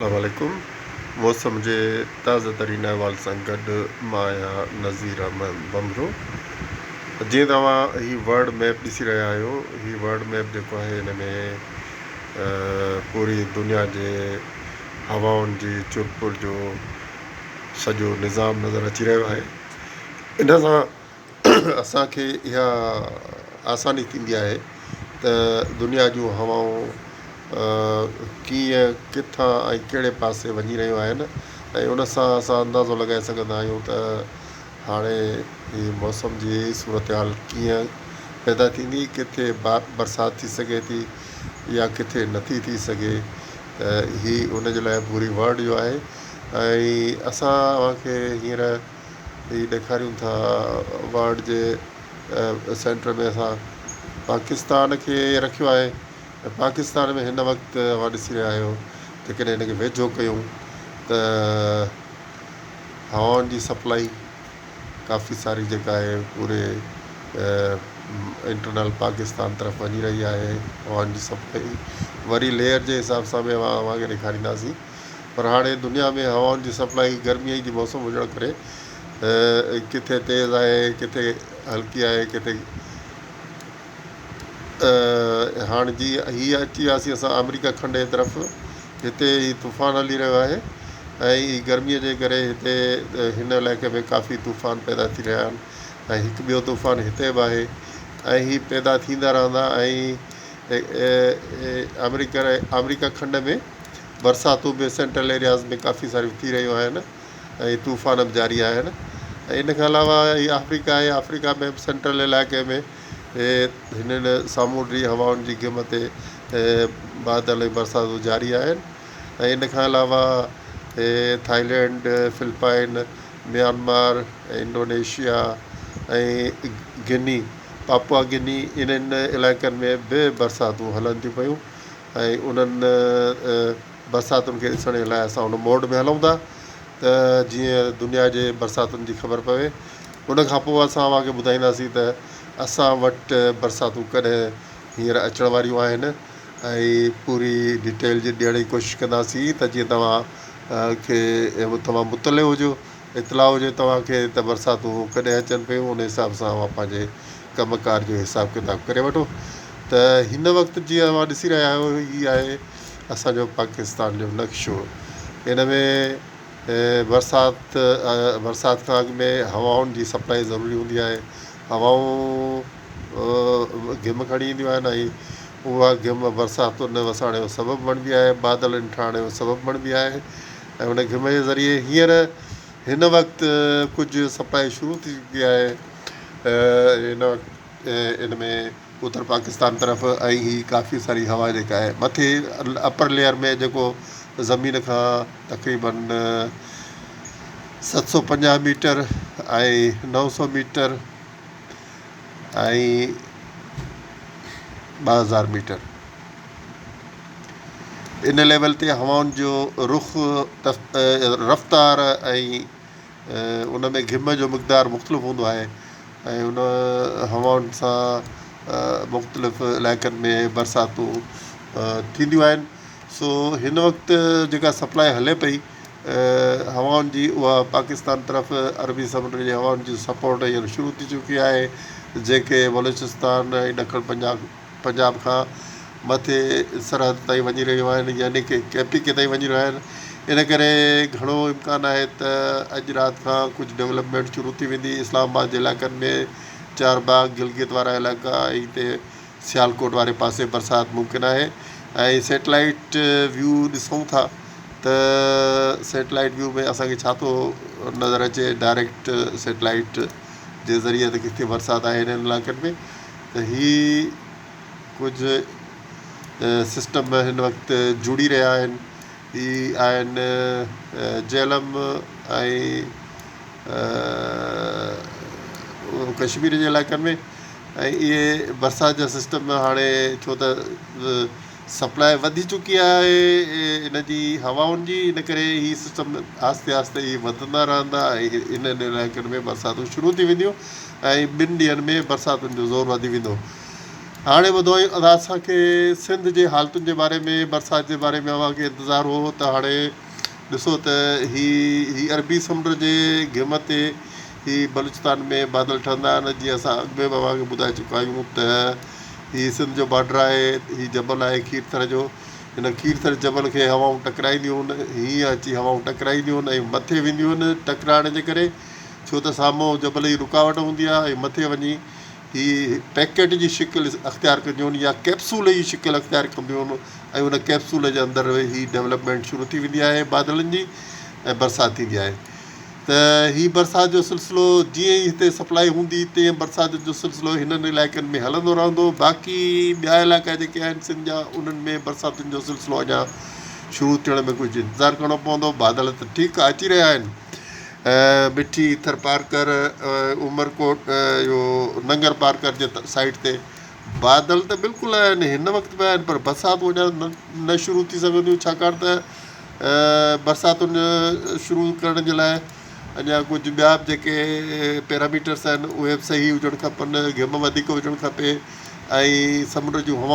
السلام عليڪم موسم جي تازه ترين احوال سان گڏ مان آهيان نظير احمد ڀنڀرو جيئن ته اوهان هي ورلڊ ميپ ڏسي رهيا آهيو هي ورلڊ ميپ جيڪو آهي هن ۾ پوري دنيا جي هوائن جي چرپر جو سڄو نظام نظر اچي رهيو آهي ان سان اسان کي اها آساني ٿيندي آهي ته دنيا جون هوائون ڪيئن، ڪٿان ۽ ڪهڙي پاسي وڃي رهيون آهن ۽ ان سان اسان اندازو لڳائي سگهندا آهيون ته هاڻي هي موسم جي صورتحال ڪيئن پيدا ٿيندي، ڪٿي برسات ٿي سگهي ٿي يا ڪٿي نٿي ٿي سگهي ته هي ان جي لاء پوري ورلڊ جو آهي ۽ اسان اوهان کي هينئر هي ڏيکاريون ٿا وارڊ جي سينٽر ۾ اسان پاڪستان کي رکيو آهي ۽ پاڪستان ۾ هن وقت اوهان ڏسي رهيا آهيو جيڪڏهن هن کي ويجهو ڪيون ته هوائن جي سپلائي ڪافي ساري جيڪا آهي پوري انٽرنل پاڪستان طرف وڃي رهي آهي هوائن جي سپلائي وري ليئر جي حساب سان به اوهان کي ڏيکارينداسين پر هاڻي دنيا ۾ هوائن جي سپلائي گرمي جي موسم هجڻ ڪري ڪٿي تيز آهي ڪٿي هلڪي آهي ڪٿي هاڻ جي هي اچي وياسي اسان آمريڪا کنڊ جي طرف هتي هي طوفان هلي رهيو آهي ۽ هي گرمي جي ڪري هتي هن علائقي ۾ ڪافي طوفان پيدا ٿي رهيا آهن ۽ هڪ ٻيو طوفان هتي به آهي ۽ هي پيدا ٿيندا رهندا ۽ آمريڪا آمريڪا کنڊ ۾ برساتون به سينٽرل ايرياز ۾ ڪافي ساريون ٿي رهيون آهن ۽ طوفان به جاري آهن ۽ ان کان علاوه هي آفريڪا آهي آفريڪا ۾ به سينٽرل علائقي ۾ هنن سامونڊي هوائن جي گم تي بادل ۽ برساتون جاري آهن ۽ ان کان علاوه هي Thailand Philippines Myanmar Indonesia ۽ Guinea Papua Guinea انهن علائقن ۾ به برساتون هلن ٿيون پيون ۽ انهن برساتن کي ڏسڻ جي لاء اسان ان موڊ ۾ هلون ٿا ته جيئن دنيا جي برساتن جي خبر پوي ان کان پوء اسان اوهان کي ٻڌائينداسين ته اسان وٽ برساتون ڪڏهن هينئر اچڻ واريون آهن ۽ پوري ڊيٽيل جي ڏيڻ جي ڪوشش ڪنداسين ته جيئن توهان کي تمام مطلع هجو. اطلاع هجي توهان کي ته برساتون ڪڏهن اچن پيون ان حساب سان اوهان پنهنجي ڪم ڪار جو حساب ڪتاب ڪري وٺو ته هن وقت جيئن اوهان ڏسي رهيا آهيو هي آهي اسان جو پاڪستان جو نقشو ان ۾ برسات برسات کان اڳ ۾ هوائن جي سپلائي ضروري هوندي آهي هوائون گهم کڻي اينديون آهن ۽ اها گهم برساتن وساڻ جو سبب بڻبي آهي بادلن ٺاهڻ جو سبب بڻبي آهي ۽ ان گهمڻ جي ذريعي هينئر هن وقت ڪجهه سپلائي شروع ٿي چڪي آهي ان وقت ان ۾ اتر پاڪستان طرف ۽ هي ڪافي ساري هوا جيڪا آهي مٿي اپر ليئر ۾ جيڪو زمين کان تقريبن ست سو پنجاهه ميٽر ۽ نو سو ميٽر ۽ ٻه هزار ميٽر ان ليول تي هوائن جو رخ، رفتار ۽ ان ۾ گهم جو مقدار مختلف هوندو آهي ۽ ان هوائن سان مختلف علائقن ۾ برساتون ٿينديون آهن سو هن وقت جيڪا سپلاء هلي پئي هوائن جي اها پاڪستان طرف عربي سمنڊ جي هوائن جي سپورٽ هينئر شروع ٿي چڪي آهي جنهن کي بلوچستان ۽ ڏکڻ پنجاب کان مٿي سرحد تائين وڃي رهيون آهن يعني ڪي ڪي پي ڪي تائين وڃي رهيون آهن ان ڪري گهڻو امڪان آهي ته اڄ رات کان ڪجهه ڊولپمينٽ شروع ٿي ويندي اسلام آباد جي علائقن ۾ چارباغ گلگت وارا علائقا ۽ هتي سيالڪوٽ واري پاسي برسات ممڪن آهي ۽ سيٽلائيٽ ويو ڏسون ٿا ته سيٽلائيٽ ويو ۾ اسان کي ڇا ٿو نظر اچي ڊائريڪٽ سيٽلائيٽ جي ذريعي ته ڪٿي برسات آهي انهن علائقن ۾ ته هي ڪجهه سسٽم هن وقت جڙي رهيا آهن هي آهن جهلم ۽ ڪشمير جي علائقن ۾ ۽ اهي برسات جا سسٽم هاڻي ڇو ته سپلاء وڌي چڪي آهي ان جي هوائن جي ان ڪري هي سسٽم آهستي آهستي هي وڌندا رهندا ۽ انهن علائقن ۾ برساتون شروع ٿي وينديون ۽ ٻن ڏينهن ۾ برساتن جو زور وڌي ويندو. هاڻي ٻڌو ادا اسان کي سنڌ جي حالتن جي باري ۾ برسات جي باري ۾ اوهان کي انتظار هو ته هاڻي ڏسو ته هي هي عربي سمنڊ جي گهمت تي هي بلوچستان ۾ بادل ٺهندا آهن جيئن اسان اڳ ۾ به اوهان کي ٻڌائي چڪا آهيون ته هي سنڌ جو بارڊر آهي هي جبل آهي کير ٿر جو هن کير ٿر جبل کي هوائون ٽڪرائينديون هن هيئن اچي هوائون ٽڪرائينديون هن ۽ مٿي وينديون هن ٽڪرائڻ جي ڪري ڇو ته سامهون جبل جي رڪاوٽ هوندي آهي ۽ مٿي وڃي هي پيڪيٽ جي شڪل اختيار ڪنديون هن يا ڪيپسول جي شڪل اختيار ڪنديون هن ۽ ان ڪيپسول جي اندر هي ڊولپمينٽ شروع ٿي ويندي آهي بادلن جي ۽ برسات ٿيندي آهي ته هي برسات جو سلسلو جيئن ئي هتي سپلائي هوندي تيئن برسات جو سلسلو هنن علائقن ۾ هلندو رهندو باقي ٻيا علائقا جيڪي آهن سنڌ جا انهن ۾ برساتن جو سلسلو اڃا شروع ٿيڻ ۾ ڪجهه انتظار ڪرڻو پوندو بادل ته ٺيڪ اچي رهيا آهن مٺي ٿرپارڪر عمرڪوٽ اهو ننگر پارڪر جي سائيڊ تي بادل ته بلڪل آهن هن وقت به آهن پر برساتون اڃا نه شروع ٿي سگهنديون ڇاڪاڻ ته برساتن جو شروع ڪرڻ جي لاء اڃا ڪجهه ٻيا به جيڪي پيرااميٽرس آهن اهي به صحيح هجڻ کپن گهم وڌيڪ هجڻ کپي ۽ سمنڊ جون هوائون